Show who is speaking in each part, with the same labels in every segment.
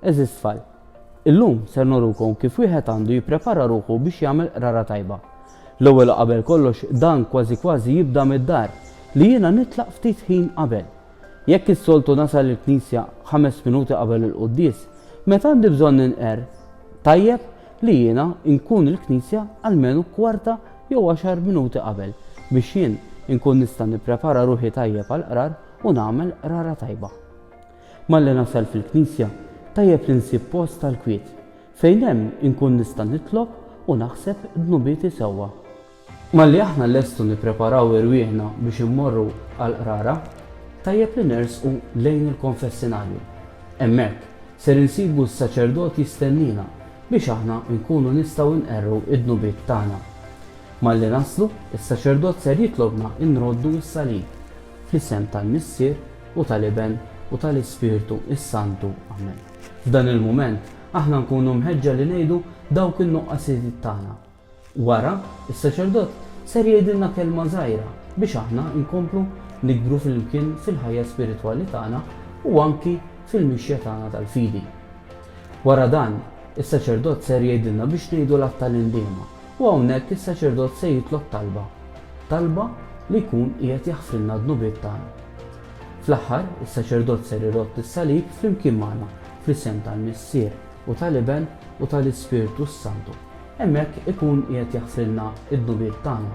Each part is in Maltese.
Speaker 1: Eżis tfal, illum ser norukom kif wieħed għandu jipprepara ruħu biex jagħmel qrara tajba. L-ewwel qabel kollox dan kważi kważi jibda mid-dar li jiena nitlaq ftit ħin qabel. Jekk is-soltu nasal il-knisja ħames minuti qabel il-quddies, meta għandi bżonn ninqer, tajjeb li jiena nkun il-knisja almenu kwarta jew għaxar minuti qabel biex jien inkun nista' nipprepara ruħi tajjeb għall-qrar u nagħmel qrara tajba. Malli nasal fil-knisja tajjeb li nsib post tal-kwiet fejn hemm inkun nista' nitlob u naħseb dnubieti sewwa. Malli aħna nlestu nippreparaw irwieħna biex immorru għall-qrara, tajjeb li nersqu lejn il-konfessinarju. Hemmhekk ser insibu s-saċerdot jistenniena biex aħna nkunu nistgħu nqerru d-dnubiet tagħna. Malli naslu, is-saċerdot ser jitlobna nroddu s-salib. Fl-isem tal-Missier, u tal-Iben, u tal-Ispirtu s-Santu. Amen. F'dan il-mument, aħna nkunu mħeġġa li ngħidu dawk in-nuqqasijiet tagħna. Wara, is-saċerdot ser jgħidilna kelma żgħira biex aħna nkomplu nikbru flimkien fil-ħajja spiritwali tagħna u anki fil-mixja tagħna tal-fidi. Wara dan, is-saċerdot ser jgħidilna biex ngħidu l-Għadd tal-Indiema u hawnhekk is-saċerdot se jitlob talba, talba li jkun qiegħed jaħfrilna d-dnubiet tagħna. Fl-aħħar, is-saċerdot ser irodd is-salib flimkien magħna fl-isem tal-Missier u tal-Iben u tal-Ispirtu s-Santu. Hemmhekk ikun qiegħed jaħfrilna d-dnubiet tagħna.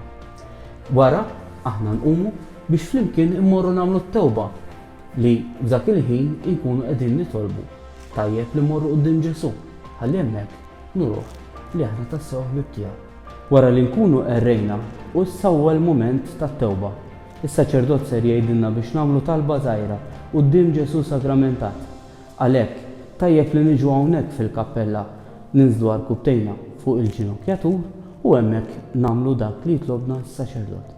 Speaker 1: Wara, aħna nqumu biex flimkien immorru nagħmlu t-tewba, li f'dak il-ħin inkunu qegħdin nitolbu, tajjeb li mmorru quddiem Ġesù, ħalli hemmhekk nuruh li aħna tassew ħbieb tiegħu. Wara li nkunu errejna, hu s-sewwa l-mument tat-tewba. Is-saċerdot ser jgħidilna biex nagħmlu talba żgħira quddiem Ġesù sagramentat. Għalhekk, tajjeb li niġu hawnhekk fil-kappella, ninżlu għarkubbtejna fuq il-ġinokjatur u hemmhekk nagħmlu dak li jitlobna s-saċerdot.